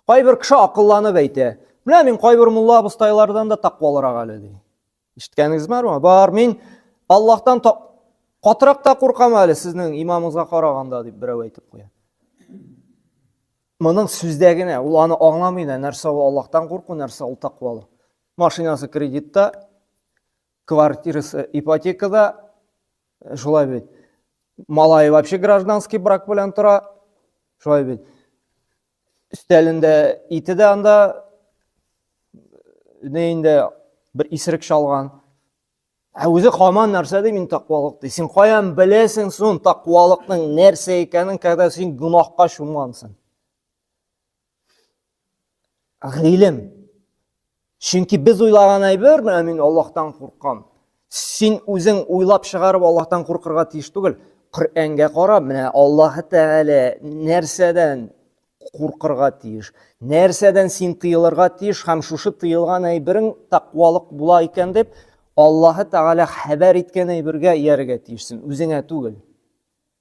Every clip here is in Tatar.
Кайбер кеше акылланып әйтә, менә мин кайбер мулла абыстайлардан да тақвалырак әле ди. Ишеткәнегез бармы? Бар, мин Аллаһтан катырак та куркам әле сезнең имамыңызга караганда дип берәү әйтеп куя. Моның сүздә генә, ул аны аңламый да, нәрсә ул Аллаһтан курку, нәрсә ул тақвалы. Машинасы кредитта, Квартирасы ипотекада, э, шулай бит. Малай вообще гражданский брак белән тора, шулай бит. Өстәлендә ите дә анда, не инде бер исерек чалган. Ә үзе хаман нәрсә ди мин тақвалык ди. Син каян беләсең сон тақвалыкның нәрсә икәнен, когда син гүнахка чумгансың? Гыйлем. Чөнки без уйлаган әйбер, менә мин Аллаһтан куркам. Син үзең уйлап чыгарып Аллаһтан куркырга тиеш түгел. Коръәнгә карап, менә Аллаһ Тәгалә нәрсәдән куркырга тиеш? Нәрсәдән син тыелырга тиеш һәм шушы тыелган әйберең тәкъвалык була икән дип Аллаһ Тәгалә хәбәр иткән әйбергә иярергә тиешсең, үзеңә түгел.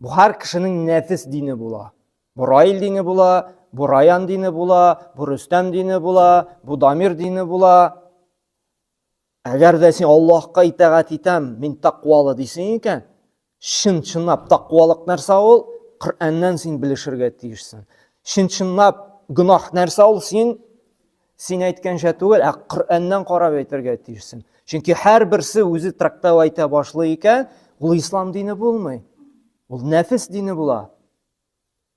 Бу һәр кешенең нәфис дине була. Бу Раил дине була, бу Раян дине була, бу Рөстәм дине була, бу Дамир дине була. Әгәр дә син Аллаһка итәгать итәм, мин тәкъвалы дисең икән, чын-чынлап тәкъвалык нәрсә ул? Коръәннән син белешергә тиешсең. Чын-чынлап гөнаһ нәрсә ул? Син Син әйткәнчә түгел, ә Коръәннән карап әйтергә тиешсең. Чөнки һәрберсе үзе трактау әйтә башлый икән, ул ислам дине булмый. Ул нәфис дине була.